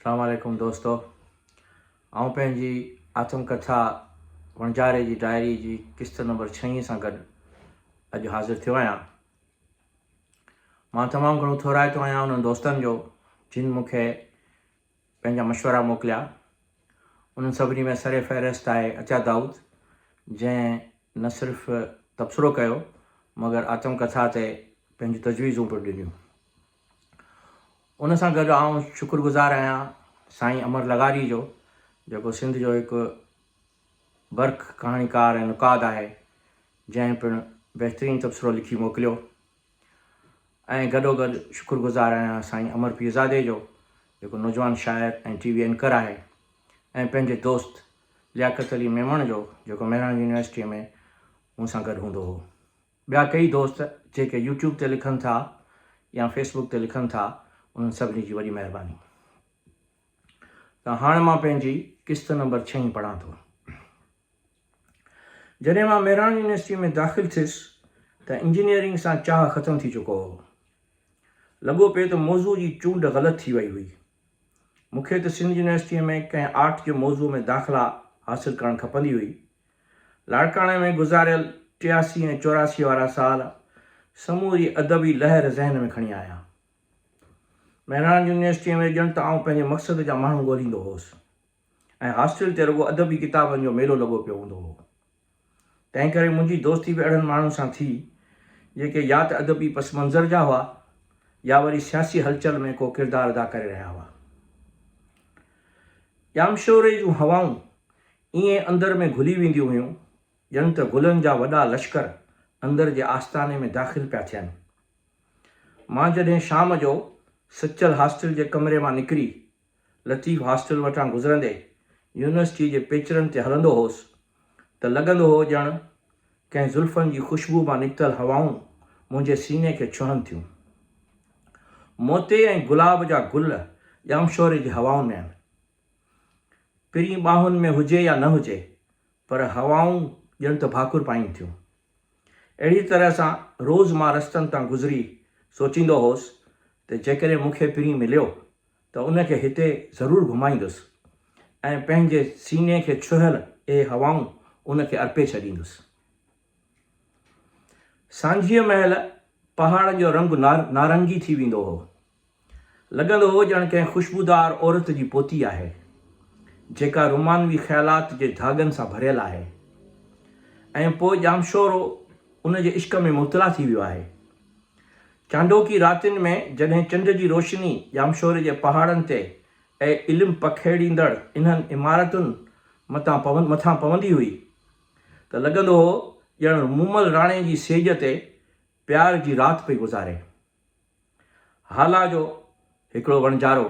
اسلام عليڪم دوستو آئون پنهنجي آتم ڪٿا وڻجاري جي ڊائري جي قسط نمبر ڇهين سان گڏ اڄ حاضر ٿيو آهيان مان تمام گھڻو ٿورائتو آهيان انهن دوستن جو جن مون کي پنهنجا مشورا موڪليا انهن سڀني ۾ سر فهرست آهي اچا داؤد جنهن نه صرف تبصرو ڪيو مگر آتم ڪٿا تي پنهنجون تجويزون پڻ ڏنيون ان سان گڏ آئون شڪر گذار آهيان سائين امر لغاري جو جيڪو سنڌ جو هڪ برک ڪهاڻيڪار ۽ نقاد آهي جنهن پڻ بهترين تبصرو لکي موڪليو ۽ گڏوگڏ شڪر گذار آهيان سائين امر پيرزادي جو جيڪو نوجوان شاعر ۽ ٽي وي اينڪر آهي ۽ پنهنجي دوست لياقت علي ميمڻ جو جيڪو مهراڻ يونيورسٽيء ۾ مون سان گڏ هوندو هو ٻيا ڪيئي دوست جيڪي يوٽيوب تي لکن ٿا يا فيس بوڪ تي لکن ٿا انهن سڀني جي وڏي مهرباني ته هاڻ مان پنهنجي قسط نمبر ڇهين پڙهان ٿو جڏهن مان مهراڻ يونيورسٽي ۾ داخل ٿيس ته انجنيئرنگ سان چاهه ختم ٿي چڪو هو لڳو پئي ته موضوع جي چونڊ غلط ٿي وئي هئي مونکي ته سنڌ يونيورسٽي ۾ ڪنهن آرٽ جي موضوع ۾ داخلا حاصل ڪرڻ کپندي هئي لاڙڪاڻي ۾ گذاريل ٽياسي ۽ چوراسي وارا سال سموري ادبي لهر ذهن ۾ کڻي آيا. مهراڻ يونيورسٽيء ۾ ڄڻ ته آئون پنهنجي مقصد جا ماڻهو ڳولهيندو هوس ۽ هاسٽل تي رڳو ادبي ڪتابن جو ميلو لڳو پيو هوندو هو. تنهن ڪري منهنجي دوستي به اهڙن ماڻهن سان ٿي، جيڪي يا ته ادبي پس منظر جا هئا يا وري سياسي هلچل ۾ ڪو ڪردار ادا ڪري رهيا هئا. ڄامشوري جون هوائون ائين اندر ۾ گهلي وينديون هيون، ڄڻ ته گلن جا وڏا لشڪر اندر جي آستاني ۾ داخل پيا ٿين. مان جڏهن شام جو سچل هاسٽل جي ڪمري مان نڪري، لطيف هاسٽل وٽان گذرندي يونيورسٽيء جي پيچرن تي هلندو هوس، ته لڳندو هو ڄڻ ڪنهن زلفن جي خوشبوء مان نڪتل هوائون منهنجي سيني کي ڇهن ٿيون. موتي ۽ گلاب جا گل ڄامشوري جي هوائن ۾ آهن. پرين ٻانهن ۾ هجي يا نه هجي پر هوائون ڄڻ ته ڀاڪر پائين ٿيون. اهڙيء طرح سان روز مان رستن تان گذري سوچيندو هوس ته جيڪڏهن مون کي پرين مليو ته ان کي هتي ضرور گهمائيندس ۽ پنهنجي سيني کي ڇهيل اهي هوائون ان کي ارپي ڇڏيندس. سانجهيء مهل پهاڙن جو رنگ نارنگي ٿي ويندو هو. لڳندو هو ڄڻ ڪنهن خوشبودار عورت جي پوتي آهي، جيڪا رومانوي خيالات جي ڌاڳن سان ڀريل آهي ۽ پوء ڄامشورو ان جي عشق ۾ مبتلا ٿي ويو آهي. چانڊوڪي راتين ۾ جڏهن چنڊ جي روشني ڄامشوري جي پهاڙن تي ۽ علم پکيڙيندڙ انهن عمارتن متان پوندي هئي، ته لڳندو هو ڄڻ مومل راڻي جي سيڄ تي پيار جي رات پئي گذاري. هالا جو هڪڙو وڻجارو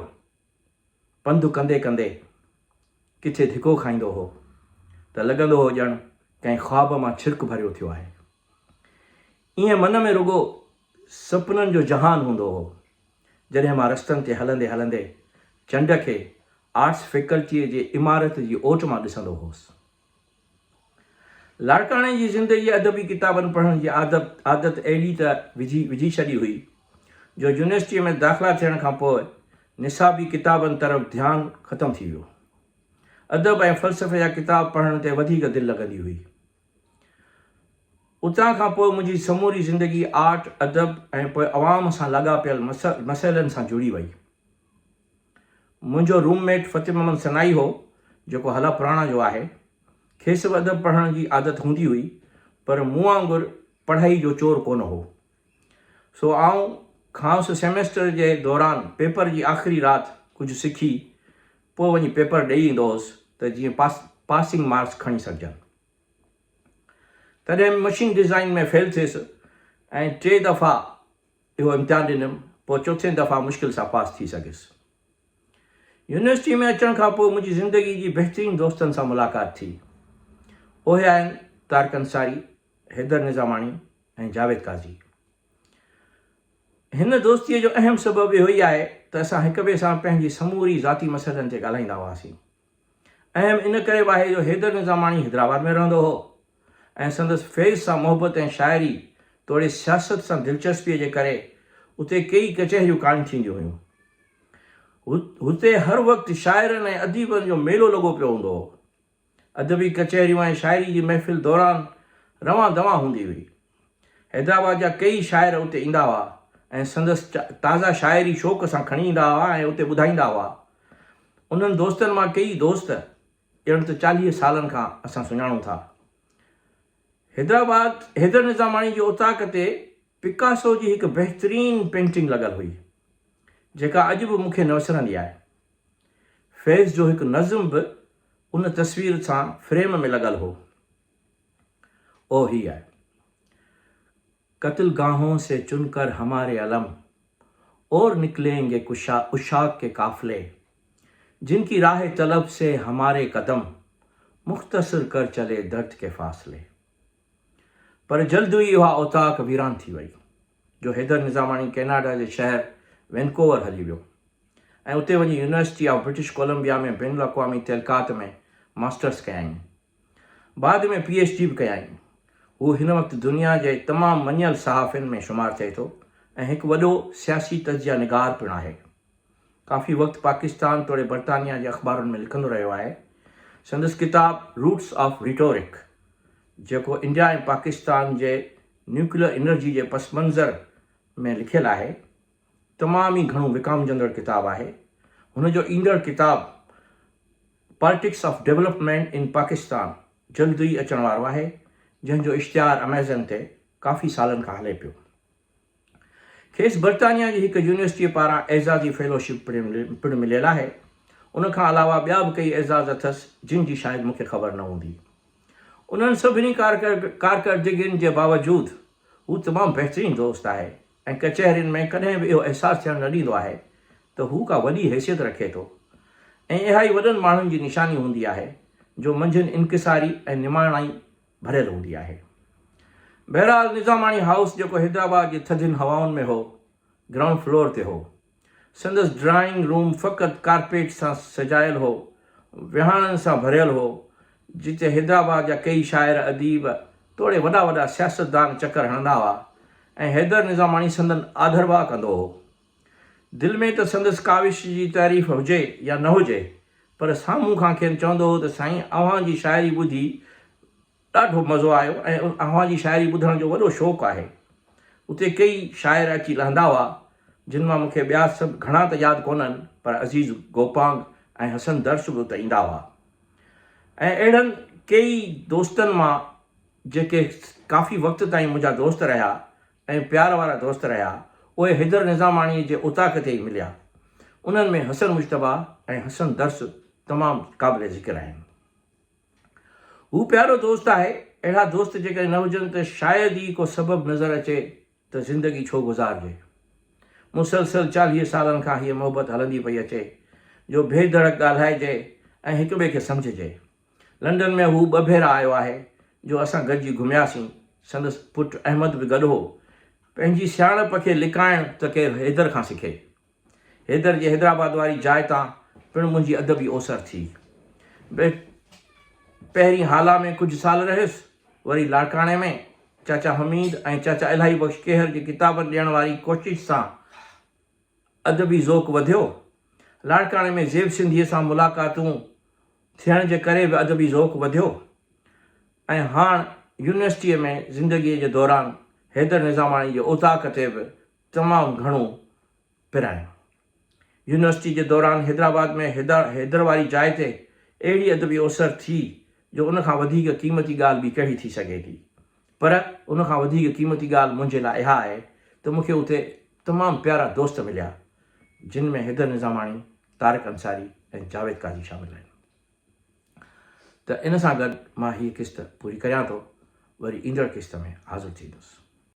پنڌ ڪندي ڪندي ڪٿي ڌڪو کائيندو هو ته لڳندو هو ڄڻ ڪنهن خواب مان ڇرڪ ڀريو ٿيو آهي. ايئن من ۾ رڳو سپنن جو جهان هوندو هو. جڏهن مان رستن تي هلندي هلندي چنڊ کي آرٽس فيڪلٽيء جي عمارت جي اوٽ مان ڏسندو هوس. لاڙڪاڻي جي زندگي ادبي ڪتابن پڙهڻ جي عادت اهڙي ته وجهي وجهي ڇڏي هئي جو يونيورسٽيء ۾ داخلا ٿيڻ کان پوء نصابي ڪتابن طرف ڌيان ختم ٿي ويو. ادب ۽ فلسفي جا ڪتاب پڙهڻ تي وڌيڪ دل لڳندي هئي. اتان کان پوء منهنجي سموري زندگي آرٽ، ادب ۽ پوء عوام سان لاڳاپيل مسئلن سان جڙي وئي. منهنجو روم ميٽ فتح محمد سنائي هو، جيڪو هلا پراڻا جو آهي. کيس به ادب پڙهڻ جي عادت هوندي هئي، پر مون وانگر پڙهائي جو چور ڪونه هو. سو آئون کانئس سيمسٽر جي دوران پيپر جي آخري رات ڪجهه سکي، پوء وڃي پيپر ڏيئي ايندو هوس ته جيئن پاسنگ مارڪس کڻي سگهجن. تڏهن مشين ڊيزائن ۾ فيل ٿيس ۽ ٽي دفعا اهو امتحان ڏنم، پوء چوٿين دفعا مشڪل سان پاس ٿي سگهيس. يونيورسٽيء ۾ اچڻ کان پوء منهنجي زندگيء جي بهترين دوستن سان ملاقات ٿي. اهي آهن طارق انصاري، حيدر نظاماڻي ۽ جاويد قاضي. هن دوستيء جو اهم سبب اهو ئي آهي ته اسان هڪٻئي سان پنهنجي سموري ذاتي مسئلن تي ڳالهائيندا هئاسين. اهم ان ڪري به آهي جو حيدر نظاماڻي حيدرآباد ۾ رهندو هو ۽ سندس فيض سان محبت ۽ شاعري توڙي سياست سان دلچسپيء جي ڪري اتي ڪيئي ڪچهريون ڪانه ٿينديون هيون. هتي هر وقت شاعرن ۽ اديبن جو ميلو لڳو پيو هوندو هو. ادبي ڪچهريون ۽ شاعري جي محفل دوران روان دوان هوندي هئي. حيدرآباد جا ڪيئي شاعر اتي ايندا هئا ۽ سندس تازه شاعري شوق سان کڻي ايندا هئا ۽ اتي ٻڌائيندا هئا. انهن دوستن مان ڪيئي دوست ڄڻ ته چاليهه سالن کان اسان سڃاڻون ٿا. حيدرآباد حيدر نظاماڻي جي اوطاق تي پڪاسو جي هڪ بهترين پينٽنگ لڳل هئي، جيڪا اڄ به مون کي نه وسرندي آهي. فيض جو هڪ نظم به ان تصوير سان فريم ۾ لڳل هو. او هي آهي قتل گاهون سي چن ڪر هماري علم اور نڪلين گي ڪشا عشاق ڪي قافلي جن ڪي راهه طلب سي هماري قدم مختصر ڪر چلي درد ڪي فاصلي پر جلد ئي اها اوطاق ويران ٿي وئي جو حيدر نظاماڻي ڪيناڊا جي شهر وينڪوور هلي ويو ۽ اتي وڃي يونيورسٽي آف برٽش ڪولمبيا ۾ بين الاقوامي تعلقات ۾ ماسٽرس ڪيائين. بعد ۾ پي ايڇ ڊي به ڪيائين. هو هن وقت دنيا جي تمام مڃيل صحافين ۾ شمار ٿئي ٿو ۽ هڪ وڏو سياسي تجزيه نگار پڻ آهي. ڪافي وقت پاڪستان توڙي برطانيا جي اخبارن ۾ لکندو رهيو آهي. سندس ڪتاب روٽس آف ريٽورڪ جيڪو انڊيا ۽ پاڪستان جي نيوڪليئر انرجي جي پس منظر ۾ لکيل آهي، تمام ئي گهڻو وڪامجندڙ ڪتاب آهي. هن جو ايندڙ ڪتاب politics of development in Pakistan جلد ئي اچڻ وارو آهي جنهن جو اشتهار اميزن تي ڪافي سالن کان هلي پيو. کيس برطانيا جي هڪ يونيورسٽيء پاران اعزازي فيلو شپ پڻ مليل آهي. ان کان علاوه ٻيا به ڪيئي اعزاز اٿس جن جي شايد مون کي خبر نه هوندي. انهن سڀني ڪارڪردگين جي باوجود هو تمام بهترين دوست آهي ۽ ڪچهرين ۾ ڪڏهن به اهو احساس ٿيڻ نه ڏيندو آهي ته هو ڪا وڏي حيثيت رکي ٿو ۽ اها ئي وڏن ماڻهن جي نشاني هوندي آهي جو منجهن انڪساري ۽ نماڻائي ڀريل هوندي آهي. بهرحال نظاماڻي هائوس جيڪو حيدرآباد جي ٿڌين هوائن ۾ هو، گرائونڊ فلور تي هو. سندس ڊرائنگ روم فقط ڪارپيٽ سان سجايل هو، وهاڻن سان ڀريل هو، جتي حيدرآباد جا ڪيئي شاعر، اديب توڙي وڏا وڏا سياستدان چڪر هڻندا هئا ۽ حيدر نظاماڻي سندن آڌرڀاء ڪندو هو. دل ۾ ته سندس ڪاوش جي تعريف هجي يا نه هجي، پر سامهون کان کين چوندو هو ته سائين اوهان جي شاعري ٻڌي ڏاڍو مزو آيو ۽ اوهان جي شاعري ٻڌڻ جو وڏو شوق آهي. اتي ڪيئي شاعر اچي لهندا هئا، جن مان مون کي ٻيا سڀ گهڻا ته ياد ڪونهن پر عزيز گوپانگ ۽ حسن درس به اتي ايندا هئا ۽ اهڙن ڪيئي دوستن مان جيڪي ڪافي وقت تائين منهنجا دوست رهيا ۽ پيار وارا دوست رهيا اهي حيدر نظاماڻيء جي اوطاق تي ئي مليا. انهن ۾ حسن مجتبيٰ ۽ حسن درس تمام قابل ذڪر آهن. هو پيارو دوست آهي، اهڙا دوست جيڪڏهن نه هجن ته شايد ئي ڪو سبب نظر اچي ته زندگي ڇو گذارجي. مسلسل چاليهه سالن کان هيء محبت هلندي پئي اچي جو بي ڌڙڪ ڳالهائجي ۽ هڪ ٻئي کي سمجهجي. لنڊن ۾ هو ٻه ڀيرا آيو آهي جو اسان گڏجي گهمياسين، سندس پٽ احمد به گڏ هو. پنهنجي سياڻپ کي لڪائڻ ته ڪير حيدر کان سکي. حيدر جي حيدرآباد واري جاء تان پڻ منهنجي ادبي اوسر ٿي. به پهرين هالا ۾ ڪجهه سال رهيس، وري لاڙڪاڻي ۾ چاچا حميد ۽ چاچا الاهي بخش ڪيهر جي ڪتابن ڏيڻ واري ڪوشش سان ادبي ذوق وڌيو. لاڙڪاڻي ۾ زيب سنڌيء سان ملاقاتون ٿيڻ جي ڪري به ادبي ذوق وڌيو ۽ هاڻ يونيورسٽيء ۾ زندگيء جي دوران حيدر نظاماڻي جي اوطاق تي به تمام گهڻو پرايو. يونيورسٽي جي دوران حيدرآباد ۾ حيدر واري جاء تي اهڙي ادبي اوسر ٿي جو ان کان وڌيڪ قيمتي ڳالهه ٻي ڪهڙي ٿي سگهي ٿي. پر ان کان وڌيڪ قيمتي ڳالهه منهنجي لاء اها آهي ته مون کي اتي تمام پيارا دوست مليا جن ۾ حيدر نظاماڻي، طارق انصاري ۽ جاويد قاضي شامل آهن. ته ان سان گڏ مان هيء قسط پوري ڪريان ٿو وري ايندڙ قسط ۾ حاضر ٿيندس.